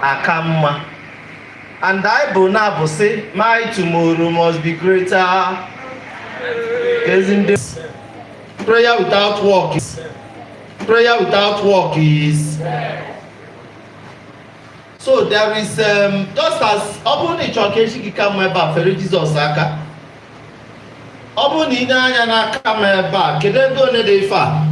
aka mma and anyị bụ na-abụ sị my tomorrow must be greater isn't it prayer without work is prayer without work is so there is um, just as ọ bụrụ na ị chọrọ ka echi gị ka mma ebe a fere Jizọs aka ọ bụrụ na i nee anya n'aka m ebe a kedu ego one dị ife a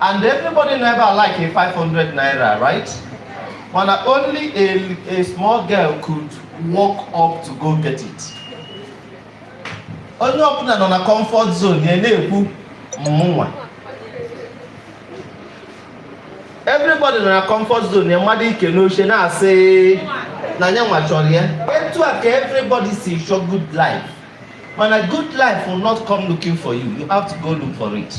And everybody nọ ebe a like a 500 naira, right? Mana only a, a small girl could walk up to go get it. Onye ọbụna nọ na comfort zone ya na-ekwu mụnwa. Everybody nọ na comfort zone ya mado ike n'oche na-asị na ya nwa chọrọ ya. Etu a ka everybody si chọọ good life. Mana good life will not come looking for you. You have to go look for it.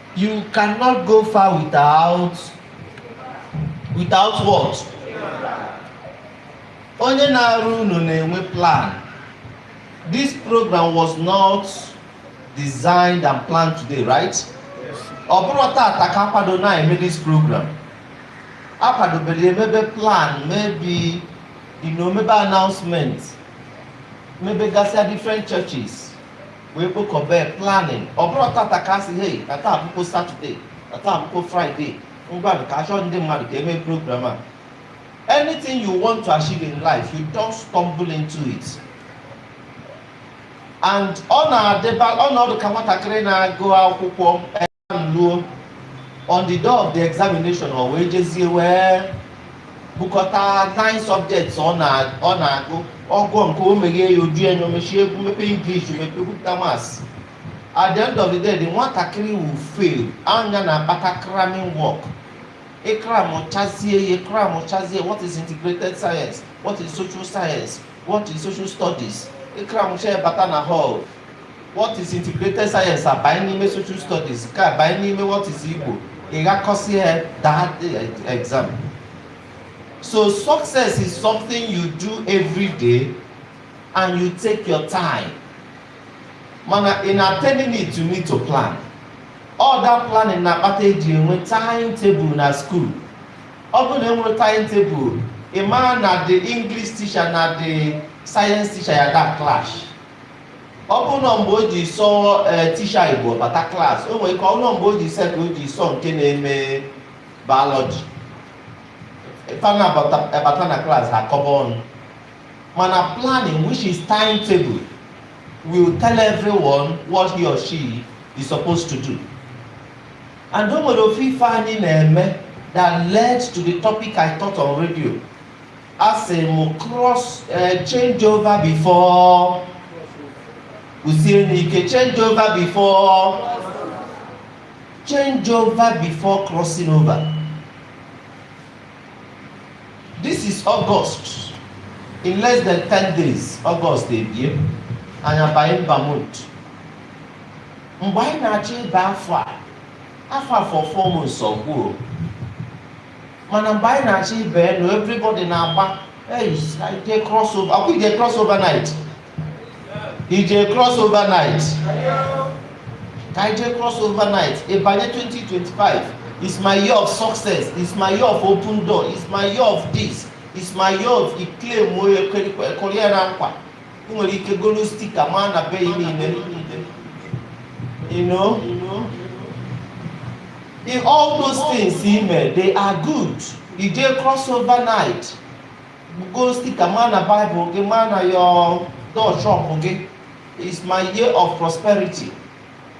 You cannot go far without without what? Onye na-arụ ụnọ na-enwe plan. This program was not designed and planned today, right? Ọ bụrọ tata ka a kwado na-eme this program. A kwadobere e mebe plan, maybe you know, mebe announcement, maybe gasịa different churches. wee kpokọba ya planning ọ bụrọ tata ka a sị hei na taa bụkwọ saturday na taa bụkwọ friday ngwa ka a chọọ ndị mmadụ ka e mee program a anything you want to achieve in life you don't stumble into it and ọ na-adịba ọ na-adị ka nwatakịrị na-agụ akwụkwọ luo on the day of the examination ọ wee jezie wee bukọta nine subjects ọ na-agụ ọ gụọ nke a o meghee ya oju enyo mechie igbo mepee english mepe bupụta maths at the end of the day the nwatakịrị will fail ọ ya na-akpata cramming work ị cramchazie ya ị cramchazie what is integrated science what is social science what is social studies ị cramchaa bata na hall what is integrated science abanye n'ime social studies ka abanye n'ime what is igbo ị ghakọsịa daa exam so success is something you do every day and you take your time mana in attaining it you need to plan all that planning na-akpata eji enwe time table na school ọ bụrụ na enwero time table ị mara na the english teacher na the science teacher ya da clash ọ bụrụ na mgbe o ji sọ ee tisha igbo bata klaasị o nwere ike ọ bụrụ na mgbe o ji sọ ya ka o ji sọ nke na-eme biology fa na-abata na klaasị akọba ọnụ mana planning which is timetable will tell everyone what he or she is supposed to do and o nwere ofu ife anyị na-eme that led to the topic I taught on radio a sị m cross eh, change over before kwusie n'ike change over before change over before crossing over this is august in less than 10 days august ebie anyị abanye ember month mgbe anyị na-achọ ịba afọ a afọ afọ four months ọ gwụ o mana mgbe anyị na-achọ ịba you know everybody na-agba ije cross over akwụ ije cross over night ije cross over night ka ije cross over night ịbanye 2025 is my year of success is my year of open door is my year of this is my year of i claimụọ ya kụrie ya na nkwa ị nwere ike golu stika maa na be gị niile you know in all those things ị mere they are good i jee cross over night golu stika maa na bible gị maa na your door shop gị is my year of prosperity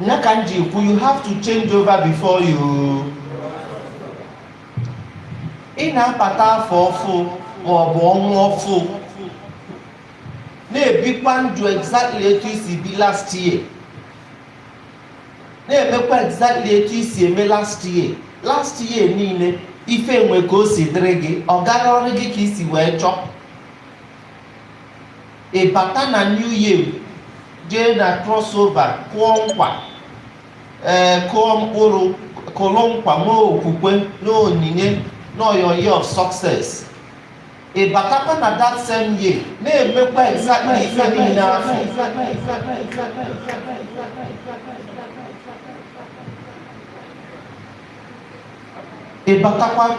nya ka m ji kwu you have to change over before you ị na-abata afọ ọfụ ma ọ bụ ọnwa ọfụ na-ebikwa ndụ exactly etu i si ebi last year na-emekwa exactly etu i si eme last year last year niile ife enwe ka o si dịrị gị ọ garọrụ gị ka i si wee chọọ ị bata na new year jee na crossover kụọ nkwa ee kụọ mkpụrụ kụrụ nkwa nwee okwukwe na onyinye na your year of success ị batakwa na that same year na-emekwa exactly ife niile afụ ị batakwa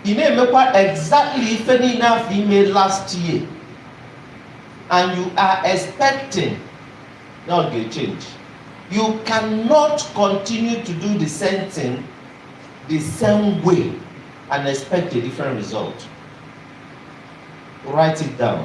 ị na-emekwa exactly ife niile afụ i me last year and you are expecting na ọ ga-echange you cannot continue to do the same thing the same way and expect a different result write it down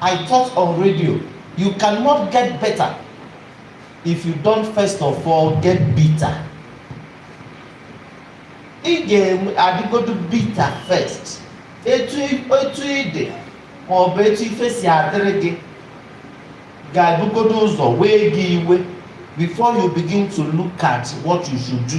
I taught on radio, you cannot get better if you don't first of all get bitter. Ị ga-adịgodu bitter first. Etu etu ị dị ma ọ bụ etu ife si adịrị gị ga-ebugodo ụzọ wee gị iwe before you begin to look at what you should do.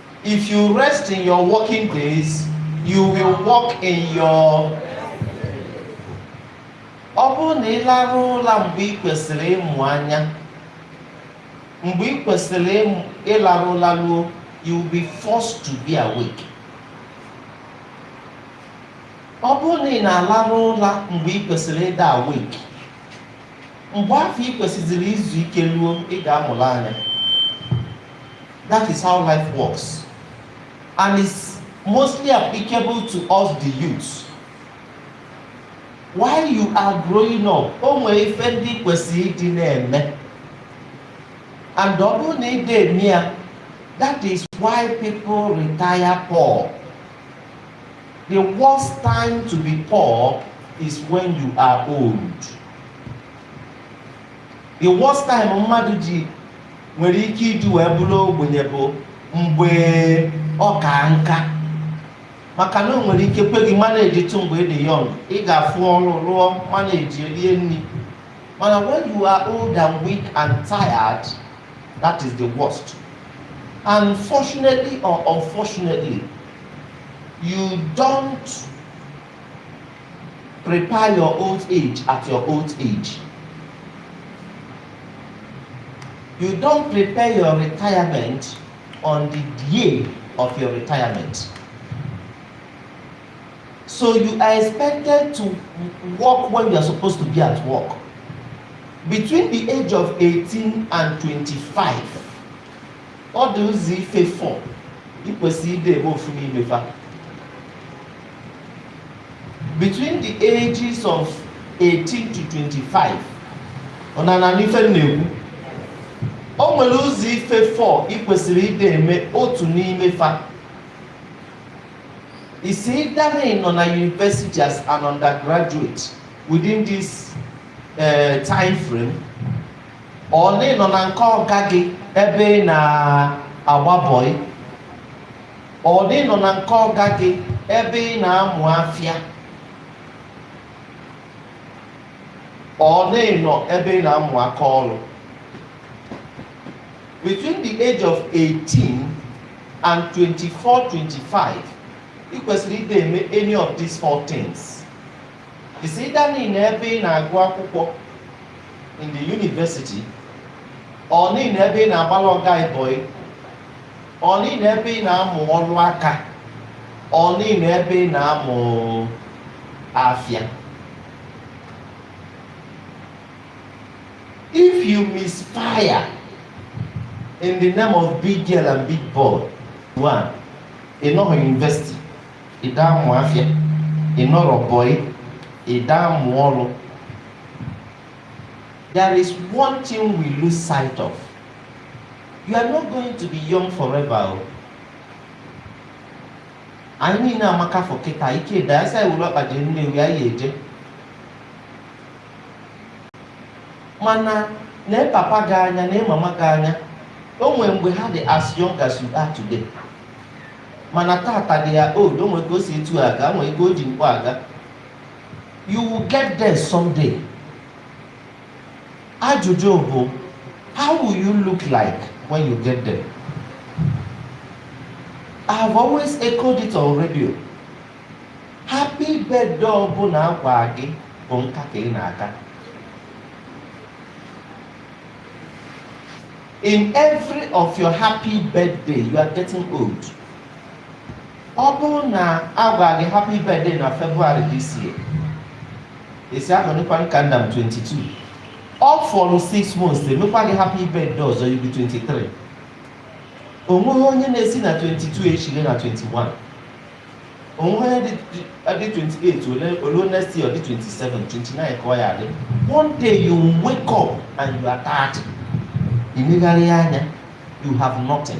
If you rest in your working days, you will work in your ọ bụrụ na ị larụ ụla mgbe ị kwesịrị ịmụ anya mgbe ị kwesịrị ịmụ- ịlarụ ụla ruo you will be forced to be awake ọ bụrụ na ị na-alarụ ụla mgbe ị kwesịrị ịdị awake mgbe afọ ị kwesịziri izu ike luo ị ga-amụlụ anya That is how life works. And it's mostly applicable to us, the youths. While you are growing up, o nwere ife ndị ị kwesịrị ịdị na-eme. And ọ bụrụ na ị dị eme ya, that is why people retire poor. The worst time to be poor is when you are old. The worst time mmadụ ji nwere ike iji wee bụrụ ogbenye bụ mgbe ọ ka nka maka na o nwere ike kwe gị managetụ mgbe ị dị young ị ga-afụ ọrụ rụọ manage rie nri mana when you are old and weak and tired that is the worst and fortunately or unfortunately you don't Prepare your old age at your old age. You don't prepare your retirement on the day of your retirement. So you are expected to work when you are supposed to be at work. Between the age of 18 and 25, ọ dị ụzọ ife fọ ikwesị ide ebe ofu n'imefa between the ages of 18 to 25 unu ana-anụ ife m na-ekwu o nwere ụzọ ife 4 ị kwesịrị ịdị eme otu n'ime fa is either na ị nọ na university as an undergraduate within this uh, time frame or na ị nọ na nke ọga gị ebe ị na-agba boy or na ị nọ na nke ọga gị ebe ị na-amụ afịa or na ị nọ ebe ị na-amụ aka ọrụ between the age of 18 and 24 25 ị kwesịrị ịdị eme any of these four things is either na ị nọ ebe ị na-agụ akwụkwọ in the university or na ị nọ ebe ị na-agbalụ ọga gị boy ọnị na ebe ị na-amụ ọlụ aka ọnị na ebe ị na-amụ afịa if you misfire in the name of big girl and big boy one ị nọrọ university ị da-amụ afịa ị nọrọ boy ị da-amụ ọlụ there is one thing we lose sight of you are not going to be young forever o anyị niine amaka for kịta ike dị ya a sị e were ọkpa jee nnewi anyị eje mana nee papa gị anya nee mama gị anya o nwere mgbe ha dị as young as you are today mana tata they are old o nwere ka o si etu aga nwere ka o ji mkpọ aga you will get there someday Ajụjụ bụ how will you look like when you get there? I have always echoed it on radio. Happy birthday ọbụna a gwa gị bụ nka ka ị na-aka. In every of your happy birthday, you are getting old. ọ bụrụ na a gwa gị happy birthday na February this year ị sị ahụ nekwa nka nna m 22 ọ fọrọ 6 months e mekwa gị happy birthday ọzọ you'll be 23 onweghị onye na-esi na 22 echire na 21 onweghị onye dị 28 o luo next year ọ dị 27 29 ka ọ ya-adị one day you wake up and you are 30 ị megharịa anya you have nothing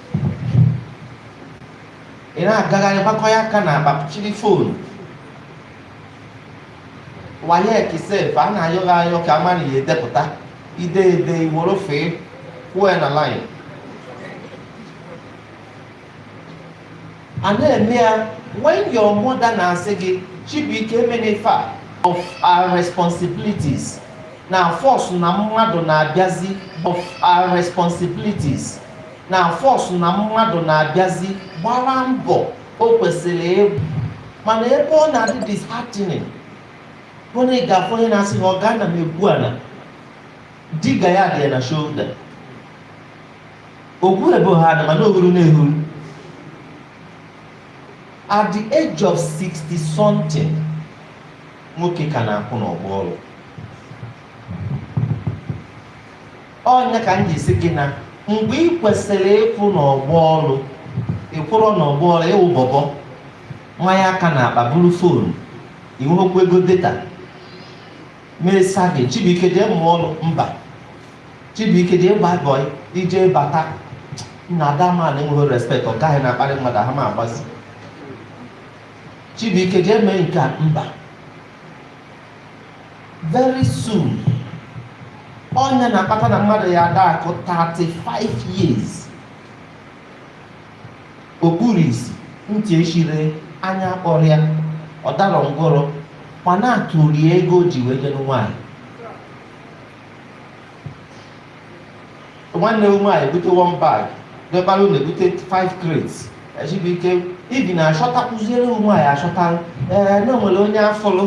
ị na-agagharị gbakọ ya aka na akpa chịrị phone WAEC sef a na-ayọ gị ayọ ka ama na ị ya-edepụta ide ede iworo fee kwuo ya na line a na-eme ya when your mother na-asị gị chibuike emena ife a of our responsibilities na force na mmadụ na-abịazi of our responsibilities na force na mmadụ na-abịazi gbara mbọ o kwesịrị ịgba mana ebe ọ na-adị disheartening bụ na ị ga-afụ onye na-asị na ọ ga na-egwu ana digger ya dị ya na shoulder ogwu ebo ha na mana o huru na-ehuru at the age of 60 something nwoke ka na-akwụ n'ọgbọ ọlụ ọ nya ka m ji si gị na mgbe ị kwesịrị ịkwụ n'ọgbọ ọrụ ị kwụrụ n'ọgbọ ọrụ ị wụ bọbọ manye aka n'akpa buru foonu i nwekwa ego data ma a sị gị chibuike jee mụọ ọrụ mba chibuike jee gbaa bọị i je bata na ada man enweghị respekt ọga ahụ na-akparị mmadụ ha ma a gwazi chibuike jee mee nke a mba very soon ọ nya na-akpata na mmadụ ya ada akụ 35 years o kpuru isi ntị echiri anya kpọrọ ya ọ dara ngwọrọ ma na-atụrụ ya ego o ji wee je nụ nwaanyị nwanne m nwaanyị bute one bag dọbara unu ebute five crates chibuike ibi na achọta kụziere ụmụ nwaanyị achọta ee na nwere onye a fụlụ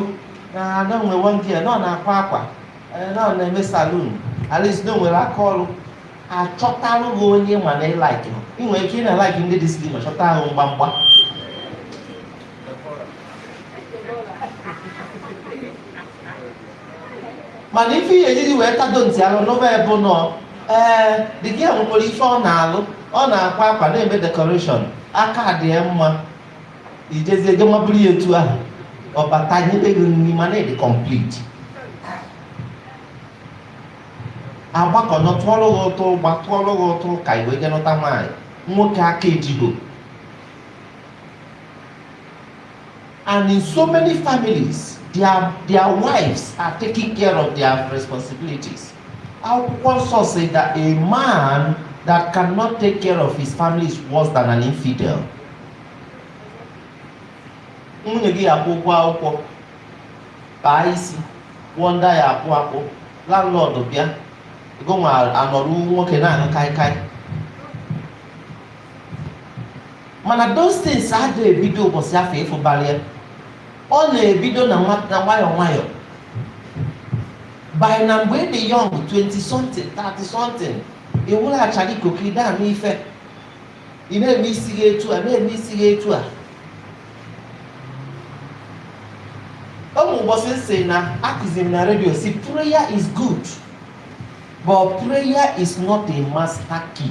na na nwere one girl na ọ na-akwa akwa ee na ọ na-eme saloon at least na o nwere aka ọrụ a chọtalụ gị onye ma na ị laiki i nwere ike ị na-alaiki ndị dị slim achọta ahụ mgbamgba mana ife ihe e jiri wee tado ntị alụ n'ụba ebe nọ ee the girl nwekwara ife ọ na-alụ ọ na-akwa akwa na-eme dekọreshọn aka dị ya mma i jezie je maburu ya etu ahụ ọ bata nyebe gị nri mana ị dị kọmplit a gbakọ ọnụ tụọrọ gị ụtụ ụgba tụọrọ gị ụtụ ka i wee je nụta nwaanyị nwoke aka ejigo And in so many families, their, their wives are taking care of their responsibilities. Akwụkwọ nsọ say that a man that cannot take care of his family is worse than an infidel. Nwunye gị akwụọ ụgwọ akwụkwọ, kpaa isi, kwụọ ndị ya akwụ akwụ, landlord bịa, ego nwa anọrụ nwoke na-aṅụ kaikai. mana those things adịghị ebido ụbọchị afụ ị fụbara ya ọ na-ebido na nwa- na nwayọọ nwayọọ bụ na mgbe ị dị young 20 something 30 something ị wụlaghachara ikuku ị da ama ife ị na-eme isi gị etu a na-eme isi gị etu a o nwe ụbọchị m sị na-akụzi m na redio si prayer is good but prayer is not a master key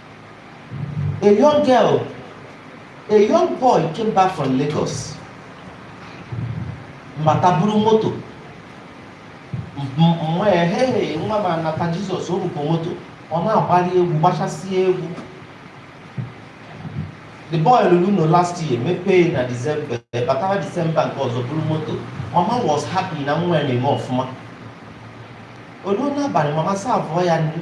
A young girl, a young boy came back from Lagos. Bata buru moto. Ehehe nwa m anata Jizọs o bukọ moto, ọ na-agbali egwu gbachasịa egwu. The boy lụrụ ụnọ last year mepee na December batara December nke ọzọ buru moto. Mama was happy na nwa ya na-eme ọfụma. O luo n'abalị mama saa abụọ ya nri.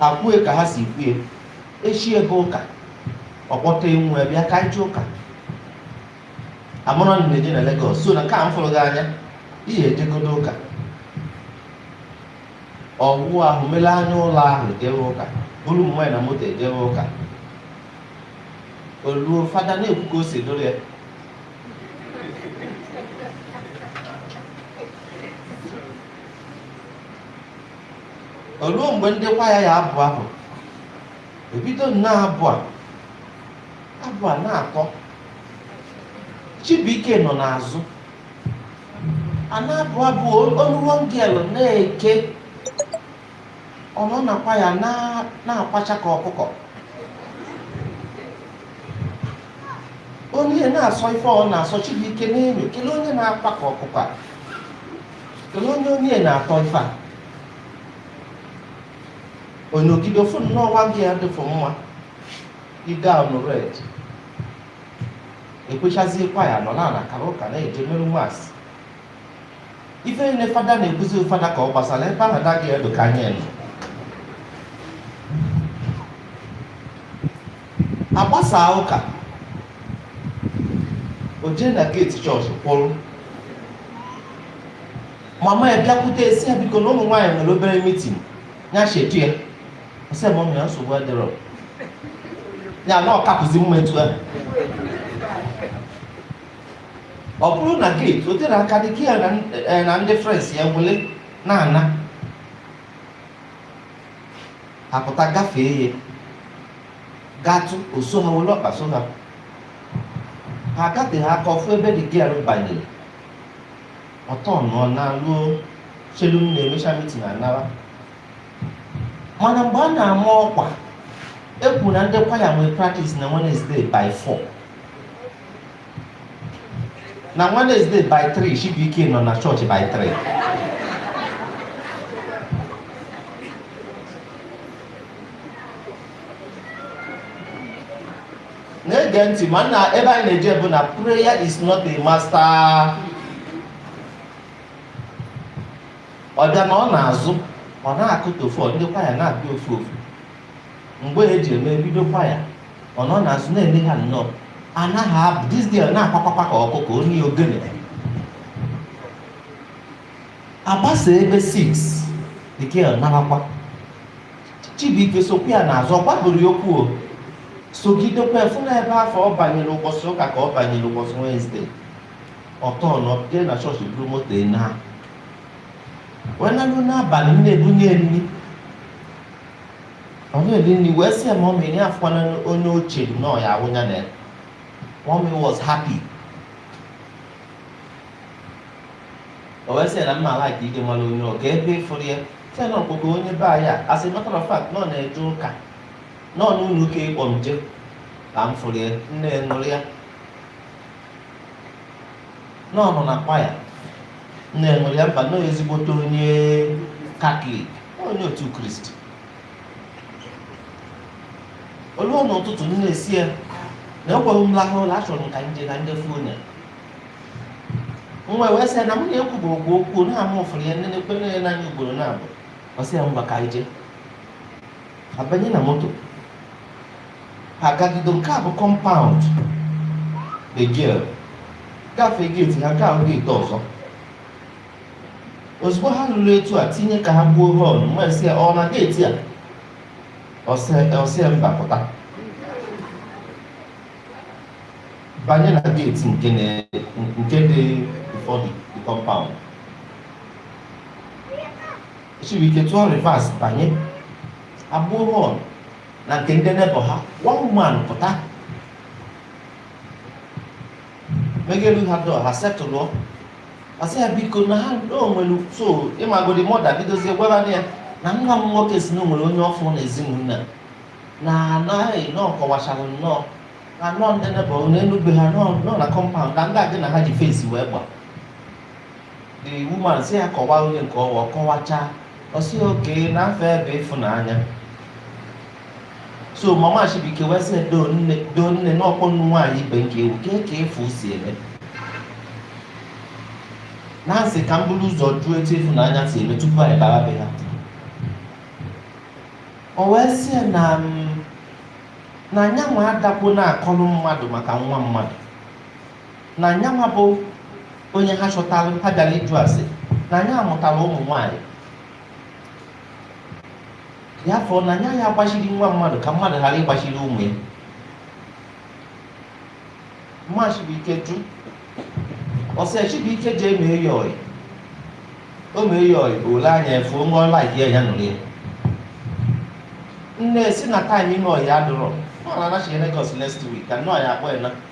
ha kwue ka ha si kwue echi ya bụ ụka ọ kpọta nwa ya bịa ka anyị je ụka amarọ m na-eje na Lagos sọ na nke a m fụrụ gị anya ị ya ejegodo ụka ọ wụọ ahụ wele anya ụla ahụ jewe ụka buru mama ya na moto jewe ụka o luo fada na-ekwu ka o si dụrụ ya o luo mgbe ndị kwaya ya-abụ abụ e bido nnọọ abụ a abụ a na-atọ Chibuike nọ n'azụ a na-abụ abụ olu one girl na-eke ọ nọ na kwaya na- na-akwacha ka ọkụkọ onye na-asọ ife ọ na-asọ Chibuike na-enyo kelee onye na-akwa ka ọkụkọ a Kedu onye onye na-akọ ife a? O nyogide fụ nnọọ nwa girl a dịfụ mma ide ọnụ red e kwechazie kwaya nọ na kara ụka na-eje merụ mass ife niile fada na-ekwuzi ọ fada ka ọ gbasara ebe ahụ the girl dị ka anya nọ a gbasaa ụka o jee na geeti chọọchị kwụrụ mama ya bịakwute ya sị ya biko na ụmụ nwaanyị nwere obere mitin ya chetu ya ọ sị ya mama ya nsogbu adịrọ ya na ọ kapụzi mma etu ahụ ọ kwụrụ na geeti o tere aka the girl na ndị frens ya wele na-ana ha pụta gafee ya gatụ o so ha were ọkpa so ha ha agateghị aka ọ fụ ebe the girl banyere ọtọ nọ na ruo chelu mama emecha mitin anara mana mgbe a na-ama ọkwa e kwuo na ndị kwaya nwee praktis na Wednesday by 4 na Wednesday by 3 Chibuike nọ na chọọchị by 3 na-ege ntị mana ebe anyị na-eje bụ na prayer is not a master ọ bịa nọọ n'azụ ọ nọkata ọ fụ ndị kwaya na-abịa ofu ofu mgbe e ji eme bido kwaya ọ nọ n'azụ na-ele ha nnọọ anaghị abụ this girl na-akwakwakwa ka ọkụkọ onye ogene agbasa ebe 6 the girl narakwa chibuike sokwa ya n'azụ ọ gwaburọ ya okwu o sogidekwa ya fụ na ebe afụ ọ banyere ụbọchị ụka ka ọ banyere ụbọchị wenezdee ọ tọọnụọ jee na chọọchị buru moto naa wee nalu n'abalị nne ya ebunye nri ọ na-eri nri wee sị ya mọmị ya afụkwana onye o chere na ọ ya wụ nwunye ya mọmị was happy o wee sị ya na m ma-alaịk ịmara onye ọ kee ebe ị fụrụ ya sị na ọ bụkwa onye be anyị as a matter of fact na ọ na-eje ụka n'ụlọ ụka ị kpọ m je ka m fụrụ ya nne ya ṅụrịa na ọ nọ na kwaya nne ya ṅụrịa mba na ezigbote onye katọlik onye otu kristi o luo n'ụtụtụ nne ya sị ya na o kwerọ m lahụ ụla achọrọ m ka m je na ndị fụ onye nwa wee sị ya na mụ na ya ekwubekwa okwu na mụ fụrụ ya nne nekene ya n'anya ugboro naabọ ọ sị ya ngwa ka anyị jee abanye na moto ha gagido nke bụ kọmpaụnd the girl gafee geeti ha nke ahụ geeti ọzọ ozugbo ha luru etu a tinye ka ha gbuo họn nne ya sị ya ọ na geeti a ọ sị ya mba pụta banye na geeti nke dị before the kọmpaụnd chibuike tụọ rivas banye egbuo họn na nke ndị nebọ ha one man pụta meghelu ha dọọ ha setụlụọ a sị ya biko na ha o nwere so ịmago the mọda bidozie gwara ya na nwa m nwoke sị na o nwere onye ọ fụ na ezinụlọ na anaghị na ọ kọwachara nnọọ na nọọ ndị nebọ n'elu be ha nọọ na kọmpaụnd na ndị a gị na ha ji fensi wee gba the woman sị ya kọwaa onye nke ọ wụ ọ kọwachaa ọ sị okee na afa ya bụ ịfụnanya so mama chibuike wee sị doo nne doo nne na ọ bụnụ nwaanyị ibe m ka ị wụ kee ka ịfụ si eme na m sị ka m buru ụzọ jụọ etu ịfụnanya si eme tupu anyị bara be ha o wee sị ya na na ya nwa adakwo na-akọrọ mmadụ maka nwa mmadụ na nya nwa bụ onye ha chọtara ha bịara ịjụ ase na nya mụtara ụmụ nwaanyị ya fọ na anya ya agbachiri nwa mmadụ ka mmadụ ghara ịgbachiri ụmụ ya mma Chibuike jụ ọ sị Chibuike jee mee ya ọyị o mee ya ọyị ole anya efu onwe ọla ya ya nụrụ ya nne sị na time ime ọyị adụrọ ọ na-anachi Lagos next week ka nnọọ ya akpọ ya na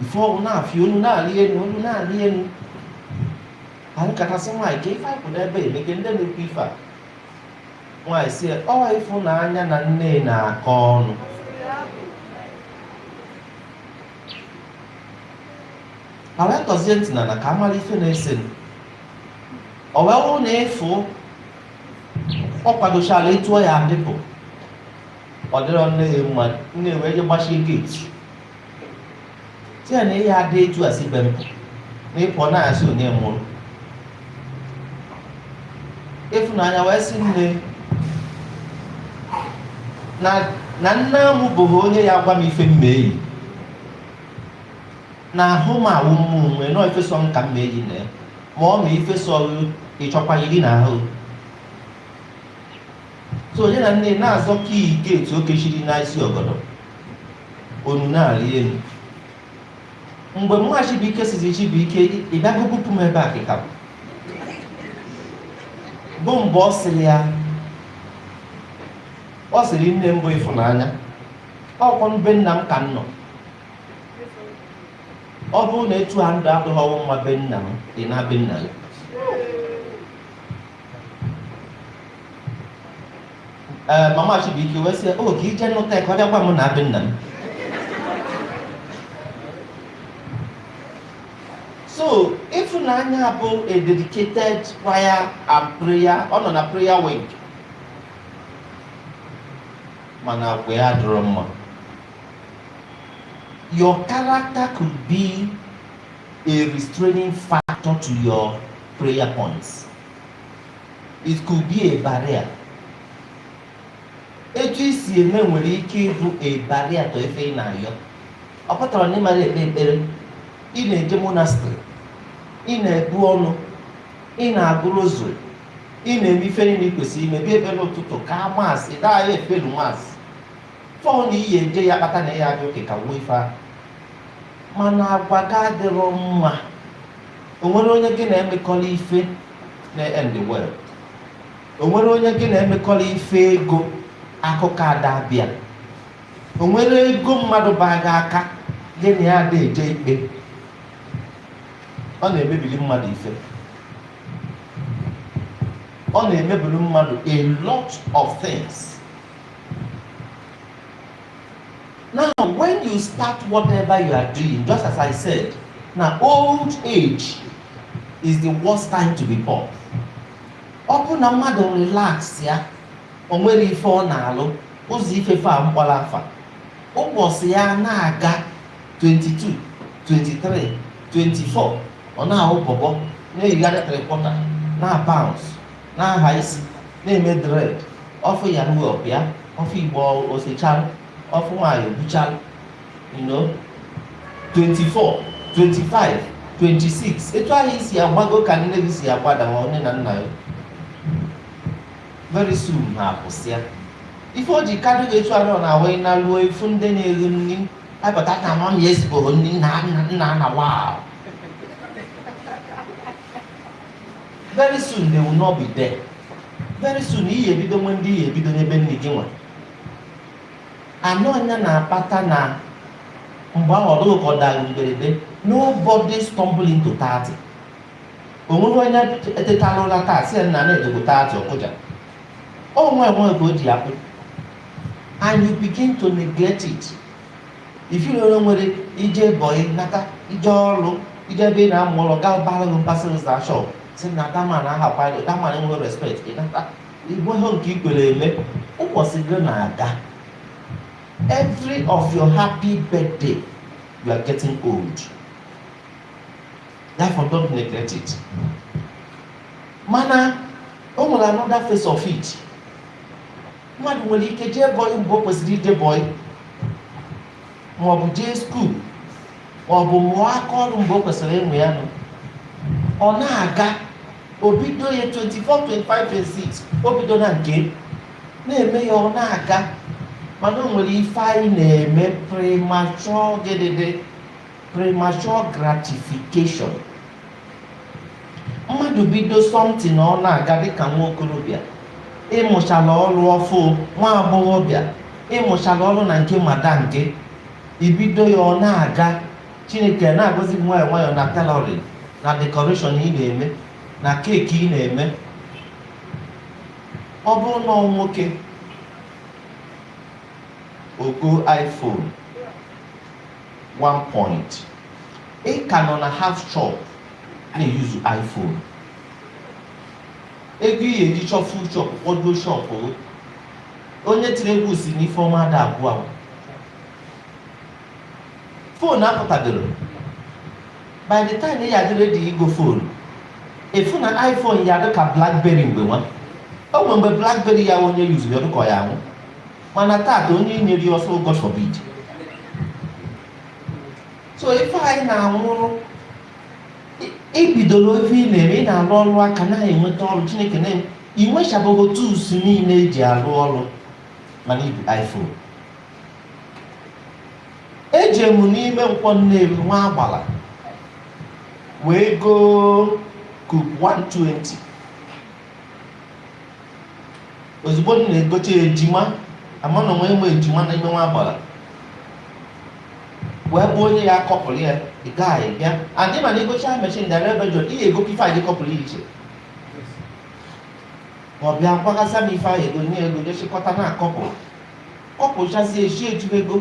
before ọnwụ na-afị onu na-arị enu onu na-arị enu anyị katasị nwaanyị ka ife anyị kwụ n'ebe emeke ndị na-ekwu ife a nwaanyị sị ọ Ịfụnanya na nne na-akọ ọnụ wa tọzie ntị na na ka a mara ife na-ese m ọ wee wụrụ na Ịfụ ọ kwadochara etu ọ ya-adị pụ ọ dịrọ nne ya mma nne wee je gbachie gate sị ya na ị ya-adị etu a si be m pụ na a sị onye mụrụ. Ịfụnanya wee sị nne na na nne m bụghị onye ya-agwa m ife m ma eyi na ahụ m ọ wụ m nwe na ọ ife sọ m ka m ma eyi na ya ma ọ ma ife sọ ị chọkwa yiri na ahụ so nya na nne na-azọ key gate o kechiri n'isi ọgọdọ onu na-arị elu mgbe mma Chibuike sịzị Chibuike ị bịago bupụ m ebe a kịta bụ mgbe ọ sịrị ya ọ sịrị nne mbụ Ịfụnanya ọ kwa be nna m ka m nọ ọ bụrụ na etu a m dị adịghị gị mma be nna m ị naa be nna gị ee eh, mama Chibuike wee sị o oh, ka i je nụta ka ọ bịa gwa m naa be nna m so Ịfụnanya bụ a dedicated choir and prayer ọ nọ na prayer wing mana agwa ya dịrọ mma your character could be a restraining factor to your prayer points It could be a barrier. Etu i si eme nwere ike ịbụ a barrier to ife ị na-ayọ. Ọ pụtara na ị mara ekpe ekpere, ị na-eje monastery, ị na-ebu ọnụ, ị na-agụ rosary, ị na-eme ife niile ị kwesịrị ime bịa ekpere ụtụtụ ka Mass daa ya evening Mass fọọ na ị ya-eje ya kpata na ya adị okay ka wuo ife ahụ mana agwa gị adịrọ mma o nwerọ onye gị na-emekọrị ife na-end well o nwere onye gị na-emekọrọ ife ego akụkọ ada abịa o nwere ego mmadụ baa gị aka gị na ya ada eje ikpe ọ na-emebiri mmadụ ife ọ na-emebiri mmadụ a lot of things Now, when you start whatever you are doing, just as I said, na old age is the worst time to be poor. ọ bụ na mmadụ relax ya o nwere ife ọ na-alụ ụzọ ifefe a kpọrọ afa ụbọchị ya na-aga 22 23 24 ọ na-ahụ bọbọ na-eyigharị three quarter na bounce na-aha isi na-eme dread ọfụ ya nwe ọbịa ọ fụ igbo o sechara ọ fụ nwanyị o buchara you know 24 25 26 etu ahụ i si agbago ka nne gị si agbada ma nne na nna ya very soon ha akwụsịa ife o ji kadụ gị etu ahụ na awee naruo ị fụ ndị na-eri nri abata na mama ya esigo nri nna nna nna na wa very soon they will not be there very soon ị ya-ebido nwee ndị ị ya-ebido nyebe nni gị nwa anọ anya na-akpata na mgbe ahụ ọ dị gị ka ọ dara mberede nobody stumble into 30 o nweghị onye etetala ụra taa sị na na adịgo 30 ọ kụja ọ nwayọ nwayọ ka o ji akpụ and you begin to neglect it ifiri onye nwere ije bọyị nata ije ọrụ ije ebe ị na-amụ ọrụ ọga bara gị mba sị zaa shop sị na that man ahakwara that man enweghị respect ị nata enweghị nke i kwere eme ụbọchị gị na-aga every of your happy birthday you are getting old therefore don't neglect it mana o nwere another face of it mmadụ nwere ike jee bọị mgbe o kwesịrị ije bọị maọbụ jee school maọbụ mụọ aka ọrụ mgbe o kwesịrị ịmụ ya nọ ọ na-aga o bido ya 24 25 26 o bido na nke na-eme ya ọ na-aga mana o nwere ife anyị na-eme premature gịdịdị premature gratification mmadụ bido something ọ na-aga dịka nwa okorobịa ịmụchala ọrụ ọ bụ nwa agbọghọbịa ịmụchala ọrụ na nke madam gị i bido ya ọ na-aga chineke na-agọzi gị nwayọọ nwayọọ na tailoring na decoration ị na-eme na keeki ị na-eme ọ bụrụ na ọ nwoke ọ gọọ iphone one point ị ka nọ na half shop na-eyuzu iphone ego ị ya-eji chọọ full shop kpọduo shop onye tiri egwu sị na ife ọma ada agwụ agwụ fon apụtagoro by the time ị ya dị redi igo fon ị fụ na iphone ya dị ka blackberry mgbe nwa o nwere mgbe blackberry ya onye yuzuru ya dịka ọ ya anwụ mana taata onye nyere ya ọ sị God forbid so ife anyị na-anwụrụ i bidoro ife ị na-eme ị na-arụ ọrụ aka na-enweta ọrụ chineke na i nwechabago tools niile eji arụ ọrụ mana i bu iPhone eje m n'ime Nkwọ Nnewi nwa agbala wee goo kup 120 ozugbo m na-egote ejima ama na onwe enwe eje m na ime nwa agbala wee bụ onye ya akọpụrụ ya ị gaghị bịa adị mana egocha mechin dara ebe jọ ị ga-ego ife anyị kọpụrụ ya iche ma ọ bịa gwaghasa m ife anyị ego nye ego jechịkọta na-akọpụ kọpụchazi echi eju ego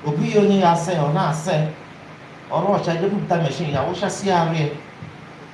ọ bụghị onye ya asa ya ọ na-asa ya ọrụ ọcha jepụta mechin ya wụchasị ya arụ ya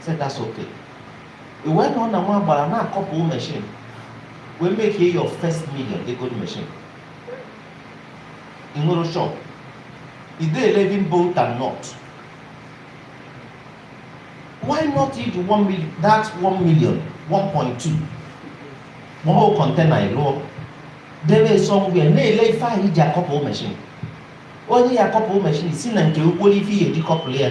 said that's okay ị wee nọ na nwa agbala na akọpụ machine wee make your first million i go machine i nwerọ shop e dey eleven bolt and nut why not use one million that one million one point two ma ọ bụ kọntena ịlụọ debe somewhere na-ele ife ahụ eji akọpụ mechin onye ya akọpụ mechin si na nke gị goro ife ọ ya-eji kọpụrụ ya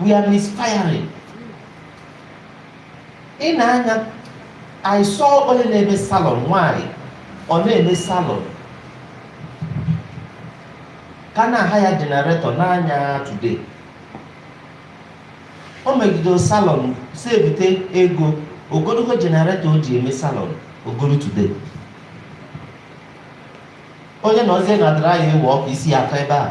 we are misfiring ị na-anya I saw onye na-eme salon nwanyị ọ na-eme salon ka na-ahaya jenaretọ n'anya today o megidere salon sevite ego o goro jenaretọ o ji eme salon o goro today onye nọzie na dryer e we ọkụ isi ya akọọ ebe a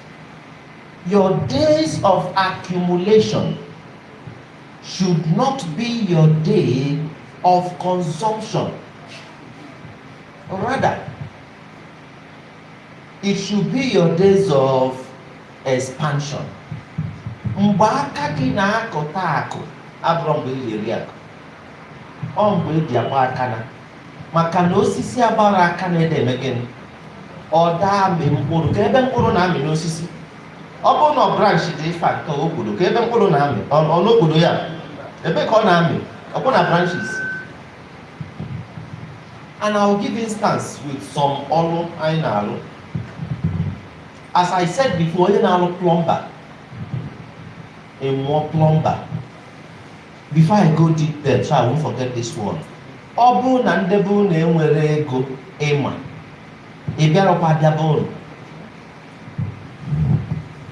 Your days of accumulation should not be your day of consumption. Rather, it should be your days of expansion. Mgbe aka gị na-akọta akụ abụrọ mgbe ị ga-eri akụ ọ mgbe eji akpa akụ na maka na osisi agbara aka na-ede eme gịnị ọ da amị mkpụrụ kee ebe mkpụrụ na-amị n'osisi ọ bụrọ na branch dị ife nke obodo kee ebe mkpụrụ na-amị ọ ọ n'obodo ya ebe ka ọ na-amị ọ bụ na branches and I will give instance with some ọrụ anyị na-alụ as I said before onye na-alụ plumber ịmụọ plumber before I go deep there so I won't forget this one ọ bụrụ na ndị be unu enwero ego ịma ị bịarọkwa abịa be unu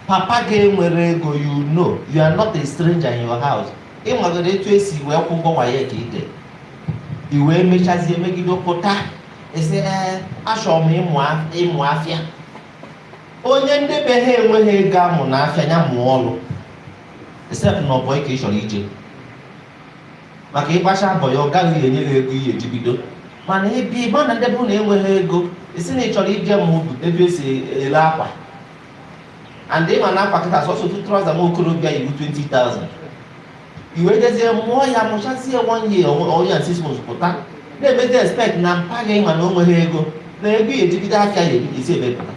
papa gị enwero ego you know you are not a stranger in your house ị magoro etu esi wee kwụ ụgwọ waec ide i wee mechazie megide pụta ị sị ee achọrọ m ịmụ af- ịmụ afịa onye ndị be ha enweghị ego amụna afịa ya mụọ ọrụ except na ọ bọị ka ị chọrọ ije maka ịgbacha bọị ya ọga gị enye gị ego ị ya eji bido mana ebe ị ma na ndị be unu enweghị ego ị sị na ị chọrọ ije ma ọ bụ ebe esi ele akwa and ịma na akwa kịta sọsọ otu trouser nwa okorobịa yi bụ 20,000 i wee jezie mụọ ya mụchazie one year one year and six months pụta na-emezi expect na mpa gị ịma na o nweghị ego na ego ị ya eji bido afịa ya esi ebee pụta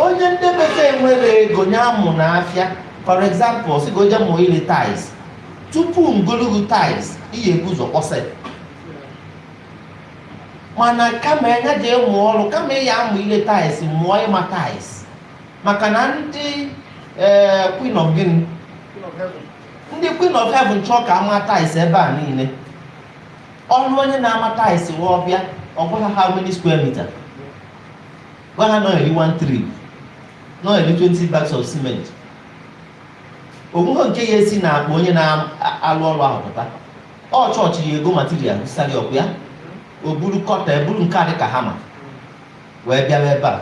onye ndị be ha enwero ego nya amụna afịa for example sị ka o je mụọ ile tiles tupu ngologo tiles ị ya ebu ụzọ kpọsa ya mana kama nya je mụọ ọrụ kama ị ya amụ ile tiles mụọ ịma tiles maka na ndị ee queen of gịnị ndị queen of heaven chọọ ka a maa tiles ebe a niile ọrụ onye na-ama tiles wee ọ bịa ọ gwa ha how many square meter gwa ha na ọ ya eri one trip na ọ ya eri 20 bags of cement o nweghị nke ya esi n'akpa onye na-alụ ọrụ ahụ pụta ọ chọọchị ya ego material sari ọkụ ya o buru cutter buru nke a dị ka hammer wee bịawa ebe a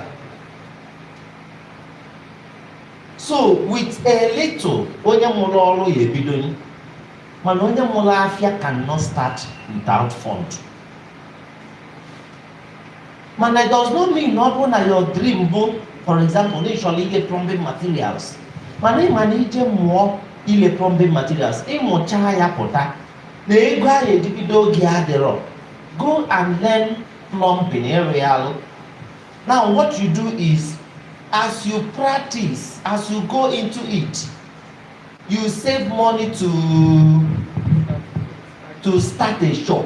so with a little onye mụrụ ọrụ ya ebido mana onye mụrụ afịa cannot start without fund mana it does not mean na ọ bụrụ na your dream bụ for example na ị chọrọ ile plumbing materials mana ị ma na i je mụọ ile plumbing materials ịmụcha ya pụta na ego ị ya eji bido ya adịrọ go and learn plumbing ịrụ ya alụ now what you do is as you practice as you go into it you save money to to start a shop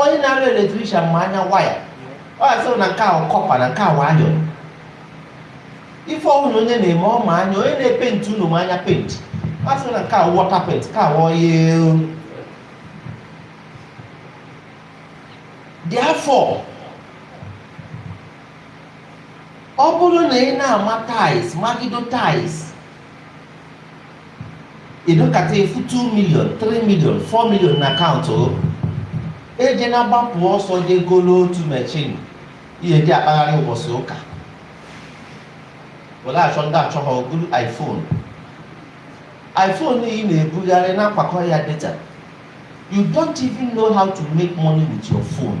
onye na-arụ eletrishan ma anya waya ọ ya sịrị na nke ahụ kọpa na nke ahụ ayọ ife ọhụrụ onye na-eme ọ ma anya onye na-epenti unu ma anya penti ọ sịrị na nke ahụ wọta penti ka ahụ ọya dị afọ ọ bụrụ na ị na-ama tais magido tais ị dọkata ị fụ 2 million 3 million 4 million na akaụntụ ejena gbapụ ọsọ je golo otu machine ị ya-eji akpagharị ụbọchị ụka were achọ ndị achọ ha golu iphone iphone ị na-ebugharị na-akwakọ ya data you don't even know how to make money with your phone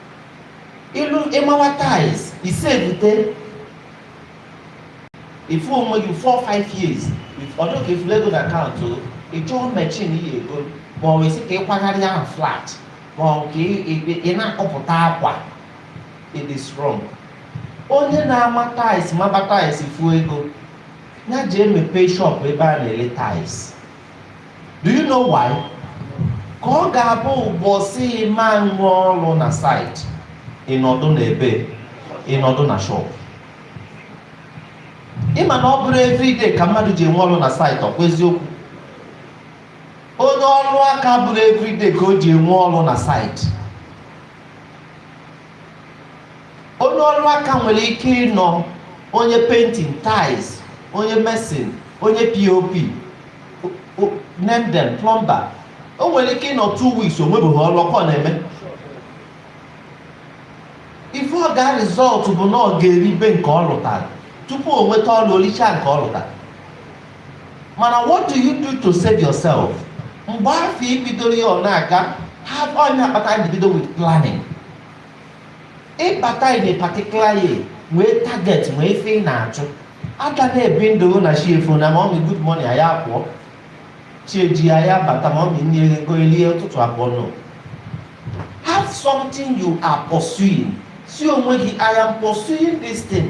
ị lụ ị mawa tiles ị sevute ị fụ onwe gị 4-5 years ọ dụ ka ị fụrụ ego na akaụntụ ị chọọ machine ị ya-ego ma ọ wesị ka ị kwagharị ahụ flat ma ọ ka ị na-akọpụta akwa it is wrong onye na-ama tiles maba tiles ị fụọ ego ị ya-eji emepe shop ebe a na-ele tiles do you know why ka ọ ga-abụ ụbọchị ị ma nwe ọrụ na site ị nọdụ na ebe ị nọdụ na shop ị ma na ọ bụrọ everyday ka mmadụ ji enwe ọrụ na site ọkwa eziokwu onye ọrụ aka bụrọ everyday ka o ji enwe ọrụ na site onye ọrụ aka nwere ike ịnọ onye painting tiles onye mason onye pop name them plumber o nwere ike ịnọ two weeks o nwebeghị ọrụ ọkwa na-eme ife ọ ga result bụ na ọ ga-eribe nke ọ lụtara tupu o nweta ọrụ o lichaa nke ọ lụtara mana what do you do to save yourself mgbe afọ ibidoro ya ọ na-aga have onye akpata anyị bido with planning ị bata in a particular year nwee target nwee ife ị na-achụ aga na-ebi ndụ na chi efo na mommy good morning a ya apụọ chi ejie a ya abata mommy nne ego elie ụtụtụ abọọ no have something you are pursuing sị onwe gị I am pursuing this thing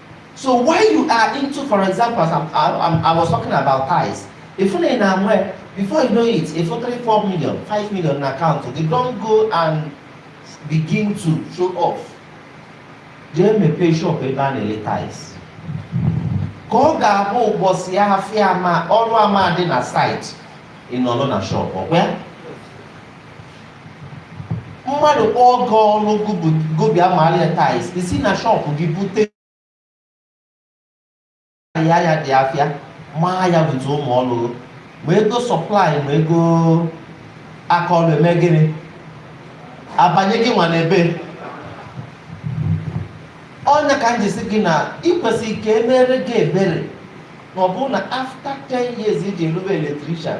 so while you are into for example as I'm, I'm, I was talking about tiles if na na nwee before you know it ị fụ three four million five million na account then don't go and begin to show off jee mepee shop ebe a na-ele tiles ka ọ ga-abụ ụbọchị ya afịa ama ọrụ ama dị na site ị nọrọ na shop ọkwa mmadụ kpọọ gị ọrụ gị bịa maara ya tiles i si na shop gị bute ya ya dị afịa maa ya bute ụmụ ọrụ ma ego supply ma ego aka ọrụ eme gịnị abanye gị nwa n'ebe ọ nya ka m ji sị gị na i kwesị ka e mere gị ebere na ọ bụrụ na after 10 years i ji rụbe electrician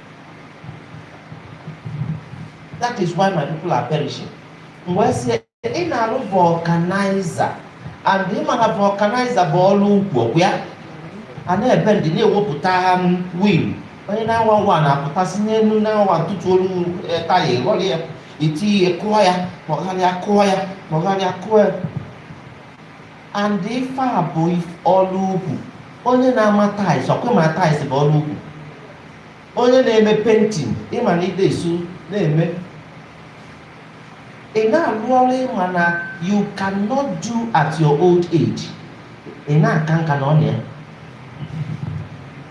that is why my people are perishing m wee sị ị na-arụ vulcanizer and ị ma na vulcanizer bụ ọrụ ukwu bụ ya a na-ebe ndị na-ewepụta wheel onye na-awa nwa na-apụtasị n'elu na-awa ntụtụ olu eh, taya ịghọrọ ya iti ya kụọ ya kpọgharịa kụọ ya kpọgharịa kụọ ya and ife a bụ if- ọrụ ukwu onye na-ama tiles ọkwa ị ma tiles bụ ọrụ ukwu onye na-eme painting ị ma na ide esu na-eme ị na-alụ ọrụ ị ma na you cannot do at your old age ị na-aka nka nọ na ya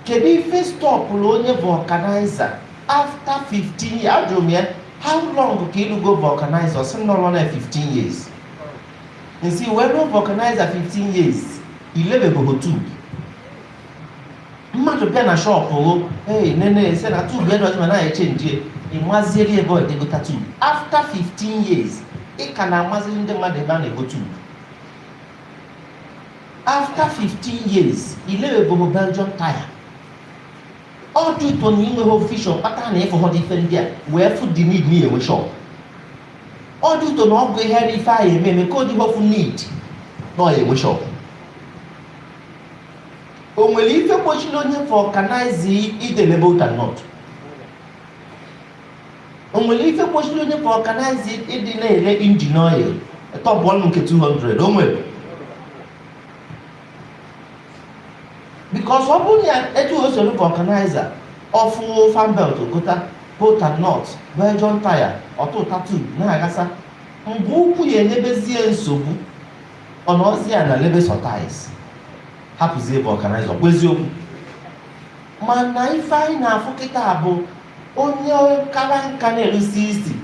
kedu ife stọpụrụ onye vulcanizer after 15 years ajụrụ m ya how long ka ị lụgo vulcanizer ọ sị m na ọ lụọna 15 years i si wee rụọ vulcanizer 15 years i lebebehọ tube mmadụ bịa na shop o ee nene ese na tube ya dọtị ma na echenji ị maziere ebe ọ ga-egota tube after 15 years ị ka na-amaziri ndị mmadụ ebe a na-ego tube after 15 years i lebebehọ belgium tire all due to na i nweghị vision kpata na ị fụhọdị ife ndị a wee fụ the need na ị ya-enwe shop all due to na ọ bụ ihe ife anyị eme eme ka o ji wee fụ need na ọ ya-enwe shop o nwere ife kpochiri onye vulcanizer ịdị ele bolt and nut o nwere ife kpochiri onye vulcanizer ịdị na-ere engine oil top up nke 200 o nwere because ọ bụrụ na etu o soro vulcanizer ọ fụ fan belt o gota bolt and nut belgium tire ọtụ ụta tube na-agasa mgbe ukwu ya enyebezie nsogbu ọ nọzi ya na-elebe sọ tires hapụzie vulcanizer ọkwa eziokwu mana ife anyị na-afụ kịta bụ onye kara nka na-erusi isi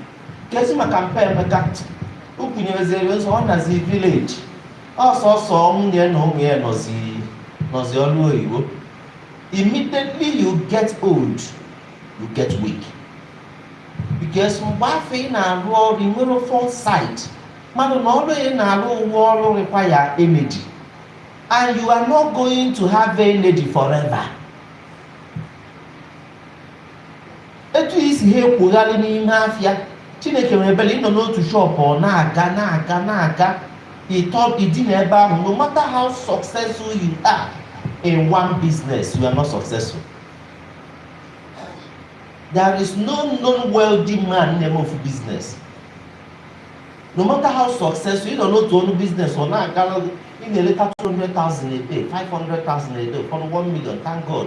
kezi maka mpe emeka o kwunyerezere ụzọ ọ nazi village ọ sọọsọ nwunye na ụmụ ya nọzi nọzi olu oyibo immediately you get old you get weak because mgbe afụ ị na-arụ ọrụ i nwerọ foresight malụ na ọrụ ị na-arụ bụ ọrụ require energy and you are not going to have energy forever etu i si ha ekwogharị n'ime afịa chineke nwere ebele ị nọ n'otu shọpụ ọ na-aga na-aga na-aga ịtọ ịdị na ebe ahụ no matter how successful you are in one business you are not successful there is no known wealthy man na-eme ofu business no matter how successful ị nọ n'otu ọnụ business ọ na-aga ị na-eleta 200,000 a day 500,000 a day ụfọdụ 1 million thank God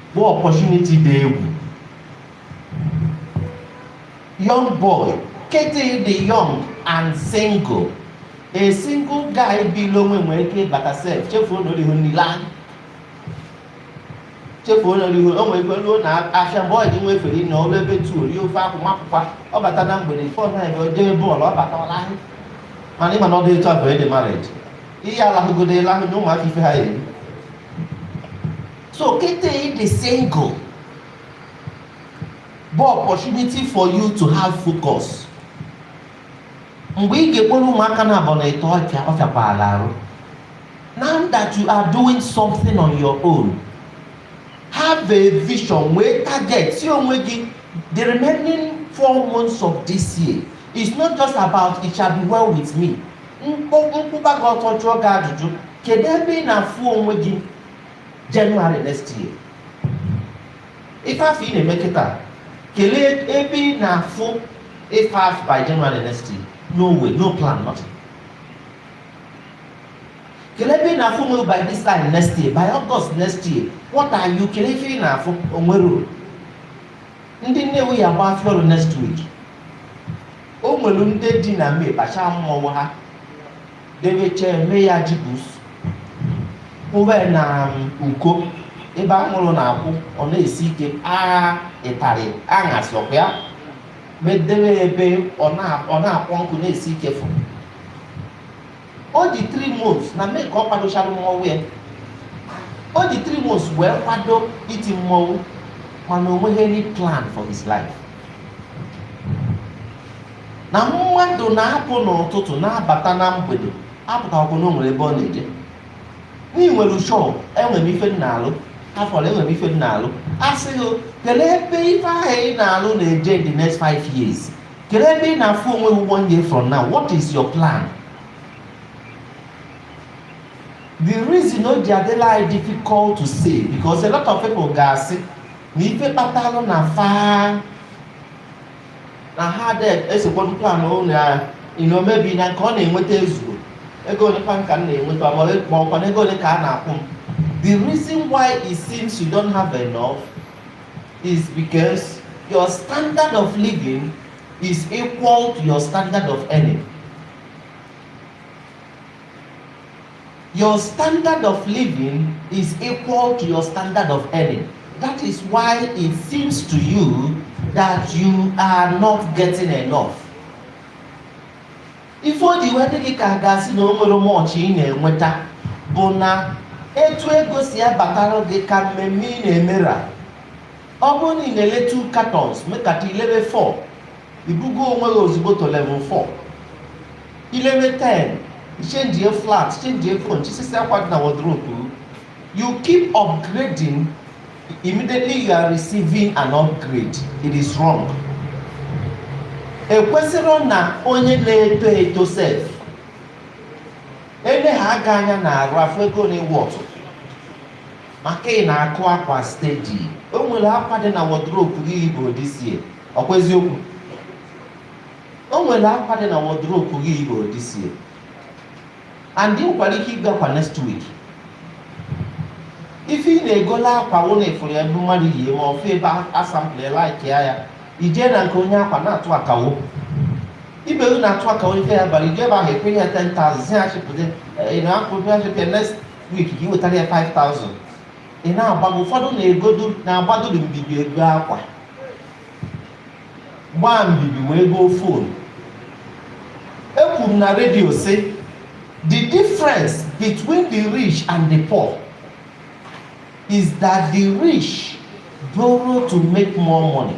bụ opportunity dị egwu young boy kịta ị dị young and single a single guy bil onwe nwere ike ịbata sef chefuo na o rihu nri anyasị chefuo na o rihu o nwere ike ruo na afịa mgbe ọ dị nwa efere na o ru ebe two o rie ofe akwụ mapụkwa ọ bata na mgbede fọ na ebe o jee bọọlụ ọ bata ọ lahụ mana ị ma na ọ dị etu abụọ ị dị married ihe alahụgodo ịlahụ na ụmụaka ife ha eri So kịta ị dị single bụ opportunity for you to have focus mgbe ị ga-ekporo ụmụaka na abọ na ịtọ ọ fịakwala arụ now that you are doing something on your own have a vision nwee target sị onwe gị the remaining four months of this year is not just about it shall be well with me m kwụba gị ọtọ jụọ gị ajụjụ kedu ebe ị na-afụ onwe gị January next year ife afụ ị na-eme kịta kelee ebe ị na-afụ ife afụ by January next year no way no plan nothing kelee ebe ị na-afụ onwe gị by this time next year by August next year what are you kelee ife ị na-afụ o nwerọ ndị Nnewi ya-agba afịa ọrụ next week o nwere ndị dị na May kpachaa mmọnwụ ha debe chee mee ya jibus kwụba na uko ebe anwụrụ na-akwụ ọ na-esi ike agha ịtarị aṅa sọkwa ya medebe ebe ọ na-akpọ nkụ na-esi ike fụ ọ dị 3 months na May ka ọ kwadochara mmọnwụ ya ọ dị 3 months wee kwado iti mmọnwụ mana o nweghị any plan for his life na mmadụ na-apụ n'ụtụtụ na-abata na mgbede apụtahụ na o nwere ebe ọ na-eje na i nwere shọp enwere m ife m na-alụ afọrọ enwere m ife m na-alụ a sị gị kele ebe ife ahụ ị na-alụ na-eje in the next five years kele ebe ị na-afụ onwe gị one year from now what is your plan the reason o ji adịlị anyị difficult to say because a lot of people ga-asị na ife kpatalụ na fa na ha ada esokwado plan ụlọ ya ị na maybe na nke ọ na-enweta ezuro ego ole kwanụ ka m na-enweta ma ọ- ma ọkwa na ego ole ka a na-akwụ m the reason why it seems you don't have enough is because your standard of living is equal to your standard of earning Your standard of living is equal to your standard of earning. That is why it seems to you that you are not getting enough. Ife o ji wee dị gị ka a ga-asị na o nwero much ị na-enweta bụ na etu ego si abatara gị ka mmemme ị na-eme ra ọ bụrụ na ị na-ele two cartons mekata i lebe four i bugo onwe gị ozugbo to level 4 i lebe 10 change flat change phone chisisi akwa dị na wardrobe you keep upgrading immediately you are receiving an upgrade it is wrong ekwesịrị na onye na-eto eto sef ele ha aga anya na arụ afọ ego na iwu ọtụ maka ị na-akụ akwa steady o nwere akwa dị na wardrobe gị i yiburo this year ọkwa eziokwu o nwere akwa dị na wardrobe gị i yiburo this year and ị nwekwara ike igo akwa next week ife ị na-egola akwa wụ na ị fụrụ ebe mmadụ yie ma ọfụ ebe a sample like ya ya i jee na nke onye akwa na-atụ akawo ibe unu na-atụ akawo ife ya bara i jee ebe ahụ ị kwụnye ya 10,000 sị ya chịpụta ị na-akwụ bịa chịpịa next week ka i wetara ya 5000 ị na-agbago ụfọdụ na-egodu na-agbadodo mbibi ego akwa gbaa mbibi wee goo phone ekwuru m na redio sị the difference between the rich and the poor is that the rich borrow to make more money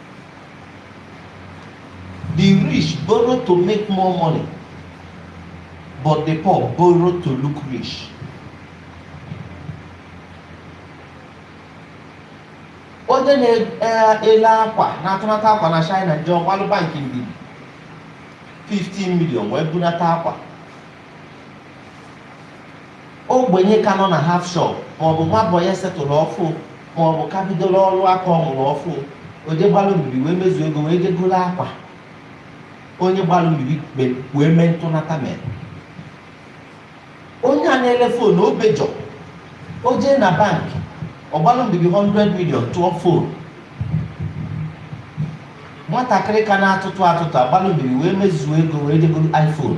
The rich borrow to make more money, but the poor borrow to look rich. Onye na-ele akwa na-atụnata akwa na China ji ọ gbalụ bank mbibi 15 million wee bunata akwa ogbenye ka nọ na half shop maọbụ nwa boy a settle-rụ ọfụ maọbụ ka bidola ọrụ aka ọ mụrụ ọfụ o jee gbalụ mbibi wee mezuo ego wee jee goro akwa onye gbalụ mbibi kpe- wee mee ntụnata mere onye a na-ele phone Obejor o jee na bank ọ gbalụ mbibi 100 million tụọ phone nwatakịrị ka na-atụtụ atụtụ agbalụ mbibi wee mezuo ego wee jee goro iPhone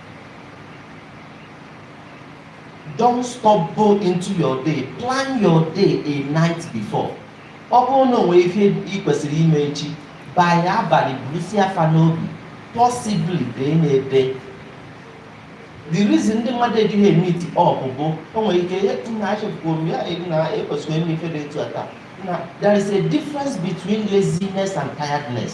don't stumble into your day plan your day a night before ọ bụrụ na o nwee ihe ị kwesịrị ime echi by abalị burusia fa n'obi possibly dee nya ede the reason ndị mmadụ ejighị emeet up bụ o nwere ike ihe nna achịpụrụ m ya na ekwesịrị ime ife dị etu a taa na there is a difference between laziness and tiredness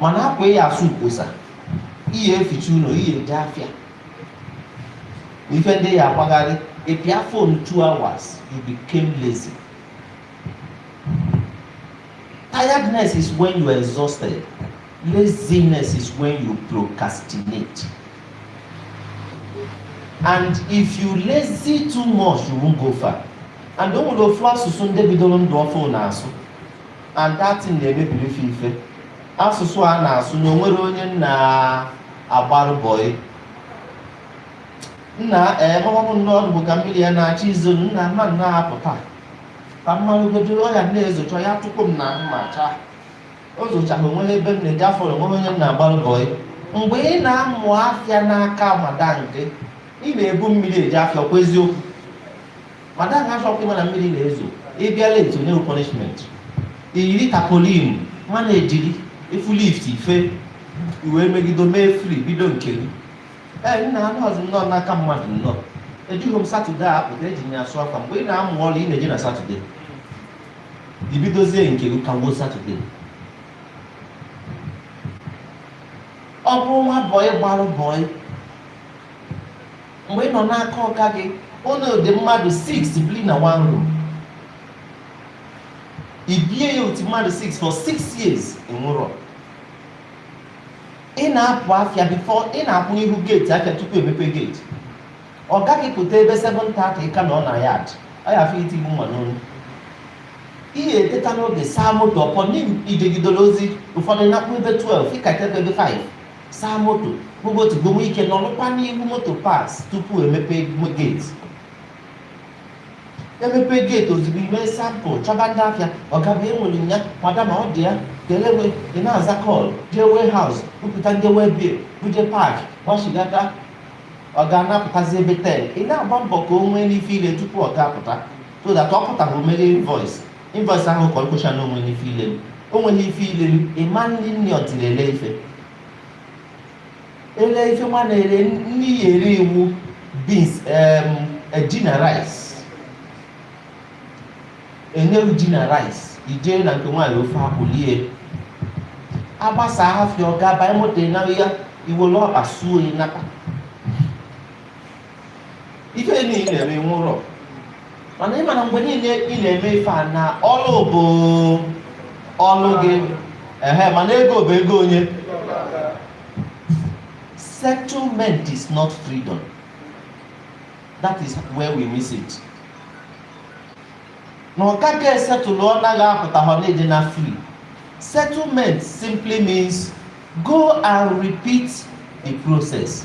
mana akwa ị ya-asụ mkposa ị ya-eficha ụnọ ị ya-eje afịa ife ndị ị ya-agbagharị ị pịa phone 2 hours you became lazy tiredness is when you are exhausted laziness is when you procrastinate and if you lazy too much you won't go far and o nwere ofu asụsụ ndị bidoro ndụ ọfụụ na-asụ and that thing na-emebiri fa ife asụsụ a na-asụ na o nwerọ onye m na-agbarụ bọị nna ee mọbụ nnọọ ọdụ bụ ka mmiri ya na-achọ izo nna m ma na-apụta ka m marụgodu ọ ya na-ezocha ya tupu m na ahụ ma chaa o zochaghị o nwerọ ebe m na-eje afọ o nwerọ onye m na-agbarụ bọị mgbe ị na-amụ afịa n'aka madam gị ị na-ebu mmiri eje afịa kwa eziokwu madam achọkwa ịma na mmiri na-ezo ị bịa late o nye punishment i yiri tapolin ma na-eje ị fụ lift ife i wee megido mee free bido nke gị ee nna anọhọzị m nnọọ n'aka mmadụ nnọọ ejeghị m satọde a pụta eji m ya asụ akwa mgbe ị na-amụ ọrụ ị na-eje na satọde i bidozie nke gị kagbuo satọde ọ bụrụ nwa bọị gbarụ bọị Mgbe ị nọ n'aka ọga gị, ụnụ dị mmadụ 6 biri na one room. I bie ya otu mmadụ 6 for 6 years ị nwụrọ. Ị na-apụ afịa before ị na-akwụ n'ihu geeti afịa tupu emepe geeti. Ọga gị pụta ebe 7:30 ị ka nọ na yard. Ọ ya-afọ itigbu mma n'olu. Ị ga-eteta n'oge saa moto upon i jegidere ozi ụfọdụ nakpuo ebe 12 ị ka tebe ebe 5. saa moto gbogotu gbowe ike nọrụkwa n'ihu motor parts tupu emepe geeti emepe geeti ozugbo i mee sample chọba ndị afịa ọga bịa enwere ya madam ọ dị ya kelewe ị na-aza call jee warehouse bupụta ndị waybill buje park gbachigata ọga na-apụtazi ebe 10 ị na-agba mbọ ka o nwee n'ife i le tupu ọga apụta so that ọ pụta o mere invoice Invoice ahụ ka ọ kwụcha na o nwere ife i lelu o nwerọ ife i lelu ịma nri ọtiri ele ife ele ife nwa na-ere nri ya ere iwu beans em, eh, ji na rice enyewu ji na rice i jee na nke nwaanyị ofe akwụ lie agbasa afịa ọ ga-aba moto ịnaghị ya i were ọkpa suo ịnata ife niile ị na-eme nwerọ mana ị ma na mgbe niile ị na-eme ife a na ọlụ bụ ọlụ gị ehe mana ego bụ ego onye settlement is not freedom that is where we miss it na ọga gị esetụlụ ọ naghị apụta ha na ị dị na free settlement simply means go and repeat the process